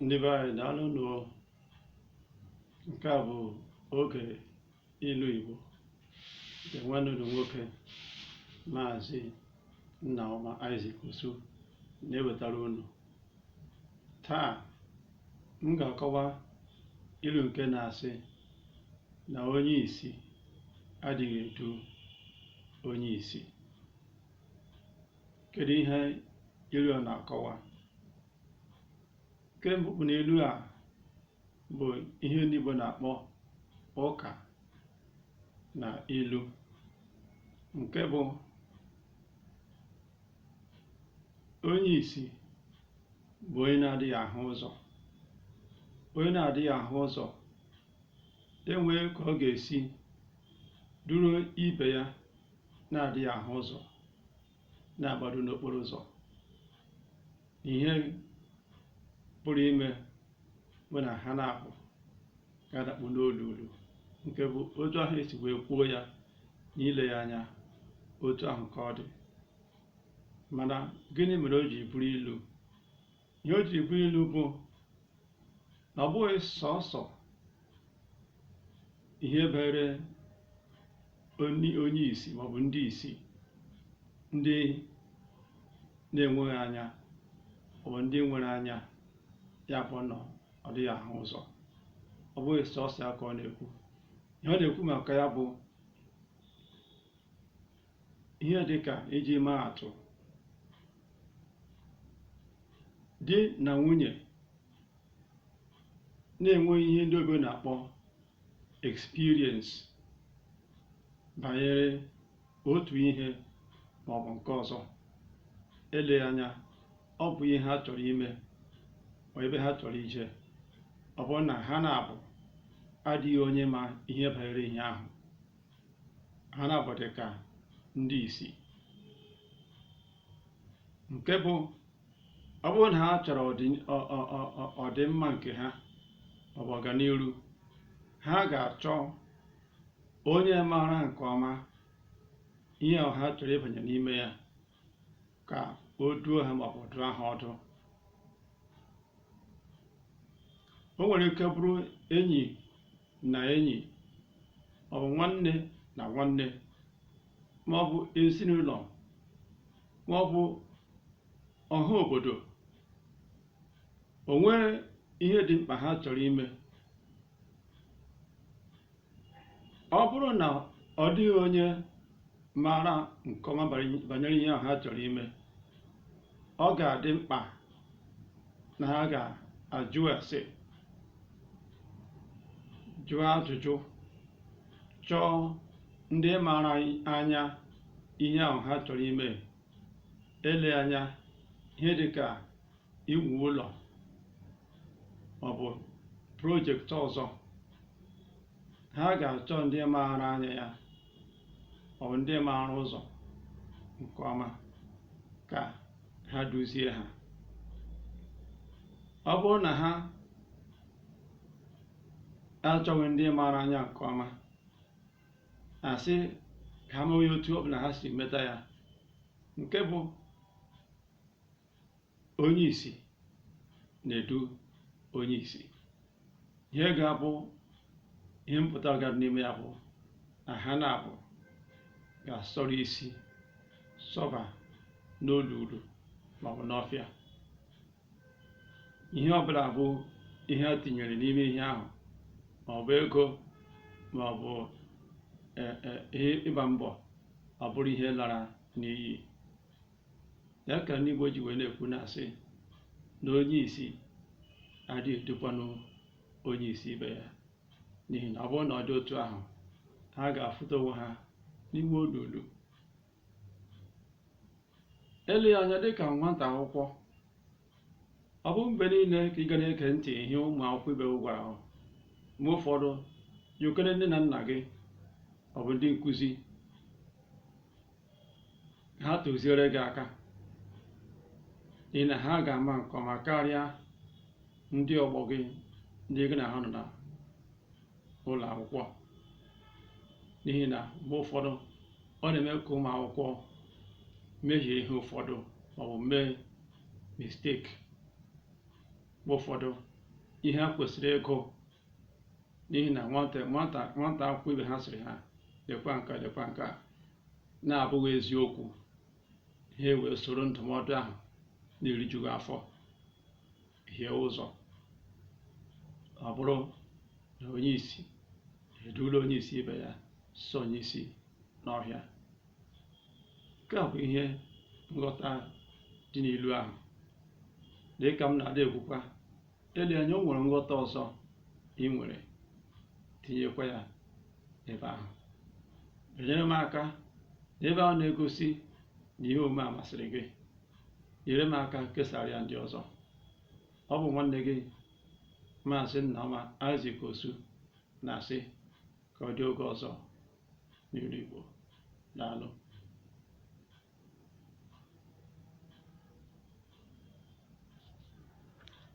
ndị be anyị daalụ nụ o nke a bụ oge ilu Igbo nke nwanne unu nwoke maazị Nnaọma Isaac Osu na-ewetara unu taa m ga-akọwa ilu nke na-asị na onye isi adịghị edu onye isi kedu ihe ilu a na-akọwa nke mbụ bụ na ilu a bụ ihe ndị Igbo na-akpọ ụka na ilu nke bụ onye isi bụ onye na-adịghị ahụ ụzọ onye na-adịghị ahụ ụzọ enwee ka ọ ga-esi duru ibe ya na-adịghị ahụ ụzọ na-agbado n'okporo ụzọ ihe pụrụ ime bụ na ha naabọ ga-adakpu n'olulu nke bụ otu ahụ esi wee kwuo ya n'ile ya anya otu ahụ ka ọ dị mana gịnị mere o ji bụrụ ilu ihe o jiri bụrụ ilu bụ na ọ bụghị sọsọ ihe banyere onye onye isi maọbụ ndị isi ndị na-enweghị anya maọbụ ndị nwere anya ya bụ na ọ dịghị ahụ ụzọ ọ bụghị sọsọ ya ka ọ na-ekwu ihe ọ na-ekwu maka ya bụ ihe dị ka iji maa atụ di na nwunye na-enweghị ihe ndị oyibo na-akpọ experience banyere otu ihe ma ọ bụ nke ọzọ eleghị anya ọ bụ ihe ha chọrọ ime ma ebe ha chọrọ ije ọ bụrụ na ha naabọ adịghị onye ma ihe banyere ihe ahụ ha naabọ dị ka ndị isi nke bụ ọ bụrụ na ha chọrọ ọdị- ọ- ọ- ọ- ọ- ọdịmma nke ha maọbụ ọganiru ha ga-achọ onye maara nke ọma ihe ahụ ha chọrọ ịbanye n'ime ya ka o duo ha maọbụ dụọ ha ọdụ o nwere ike bụrụ enyi na enyi maọbụ nwanne na nwanne maọbụ ezinụlọ maọbụ ọha obodo o nwee ihe dị mkpa ha chọrọ ime ọ bụrụ na ọ dịghị onye maara nke ọma banyere ihe ahụ ha chọrọ ime ọ ga-adị mkpa na ha ga-ajụ ese jụọ ajụjụ chọọ ndị maara anya ihe ahụ ha chọrọ ime eleghị anya ihe dị ka iwu ụlọ ọ bụ project ọzọ ha ga-achọ ndị maara anya ya ọ bụ ndị maara ụzọ nke ọma ka ha duzie ha ọ bụrụ na ha achọghị ndị maara anya nke ọma a sị ka ha mewe ya otu ọ bụla ha si meta ya nke bụ onye isi na-edu onye isi ihe ga-abụ ihe mpụtara n'ime ya bụ na ha naabọ ga-asọrọ isi sọba n'olulu maọbụ n'ọfịa ihe ọbụla bụ ihe a tinyere n'ime ihe ahụ maọbụ ego maọbụ e, e, ihe ịgba mbọ ọ bụrụ ihe lara n'iyi ya ka ndị Igbo ji wee na-ekwu na-asị na onye isi adịghị edukwanụ onye isi ibe ya n'ihi na ọ bụrụ na ọ dị otu ahụ ha ga-afụta onwe ha n'ime olulu eleghị anya dịka nwata akwụkwọ ọ bụghị mgbe niile ka ị ga na-ege ntị ihe ụmụ akwụkwọ ibe gị gwara gị mgbe ụfọdụ jekwuru nne na nna gị ọ bụ ndị nkụzi ha tụziere gị aka n'ihi na ha ga-ama nke ọma karịa ndị ọgbọ gị ndị gị na ha nọ na ụlọ akwụkwọ n'ihi na mgbe ụfọdụ ọ na-eme ka ụmụ akwụkwọ mehie ihe ụfọdụ maọbụ mee mistake mgbe ụfọdụ ihe ha kwesịrị ịgụ n'ihi na nwata akwụkwọ ibe ha sịrị ha lekwa nke a lekwa nke a na-abụghị eziokwu ha ewee soro ndụmọdụ ahụ na-erijughị afọ hie ụzọ ọ bụrụ na onye isi edula onye isi ibe ya sọnye isi n'ọhịa nke a bụ ihe nghọta dị n'ilu ahụ dịka m na-adị ekwukwa ele anya o nwere nghọta ọzọ i nwere tinyekwa ya n'ebe ahụ enyere m aka n'ebe ahụ na-egosi na ihe omume a masịrị gị nyere m aka kesara ya ndị ọzọ ọ bụ nwanne gị maazị Nnaọma Isaac Osu na-asị ka ọ dị oge ọzọ n'ilu Igbo daalụ